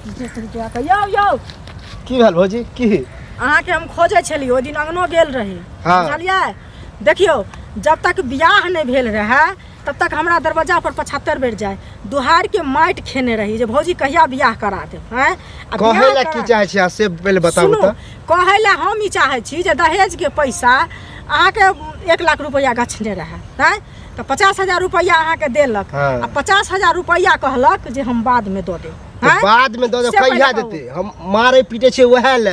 यौ यौ की भेल भौजी की अहाँके हम खोजै छलियै ओहि दिन अङ्गनो गेल रही हाँ। बुझलियै देखियौ जब तक बियाह नहि भेल रहए तब तक हमरा दरवाजा पर पचहत्तर बेर जाए दुहार के माटि खेने रही जे भौजी कहिया बियाह करा देब हैं आ कहै बियाह लए करा- की चाहै छी अहाँ से पहिले बताबू सुनू, तऽ कहै लए हम ई चाहै छी जे दहेज के पैसा अहाँके एक लाख रुपैआ गछने रहए हैं तऽ पचास हजार रुपैआ अहाँके देलक हाँ। आ पचास हजार रुपैआ कहलक जे हम बादमे दऽ देब तऽ हाँ? बाद में दो दो से पहिले कहिया कहू। देते हम मारे पीटे छे वह ले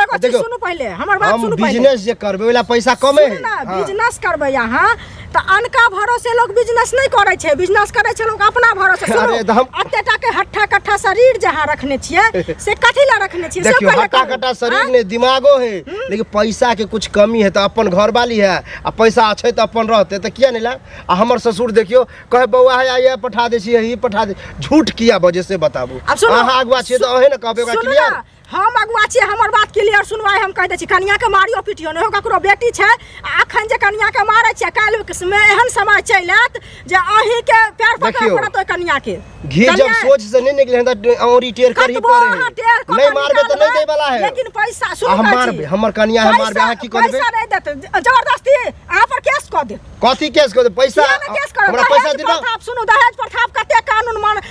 एगो चीज सुनू पहिले हमर बात हम सुनू पहिले बिजनेस जे करबे वाला पैसा कमे सुनू है ना हाँ। बिजनेस करबै अहाँ तऽ अनका भरोसे लोग बिजनेस नहि करै छै बिजनेस करै छै लोग अपना भरोसे सुनू अरे तऽ हम- एते टा के हट्ठा कट्ठा शरीर जे अहाँ रखने छियै से कथी लए रखने छियै से देखियो पहिले हट्टा कहू। कट्टा शरीर हाँ? ने दिमागो है लेकिन पैसा के कुछ कमी है तो अपन घर वाली है आ पैसा छै तऽ अपन रहतै तऽ किया नहि लाए आ हमर ससुर देखियो कहे बौआ है आइए पठा दै छियै ई पठा दे झूठ किया बजे से बताबू आब सुनू, अहाँ अगुआ छियै तऽ अहे ने कहबै ओकरा सुनू क्लियर ना, हम अगुआ छियै हमर बात क्लियर सुनवाई हम कहि दै छी कनिया के मारियो पिटियो नहि हो ककरो बेटी छै आ अखन जे कनिया के मारै छियै काल्हि मे एहन समय चलि आयत जे अही के पैर पकड़ देखियौ। पड़त ओइ कनिया के घी जब कनिया- सोच से नहीं निकले हैं तो औरी टेर कर ही कतबो पड़े अहाँ टेर हैं कऽ नहीं के मारबे तो नहीं निकालबै, दे वाला है लेकिन पैसा आ सुन हम मारबे हमर कनिया है मारबे अहाँ की करबे पैसा नहीं देते ज- जबरदस्ती अहाँ पर केस कऽ दे कथी केस कर दे पैसा किया ने केस करब हमरा पैसा दहेज दिबा प्रथाप सुनू दहेज प्रथाप कते कानून मान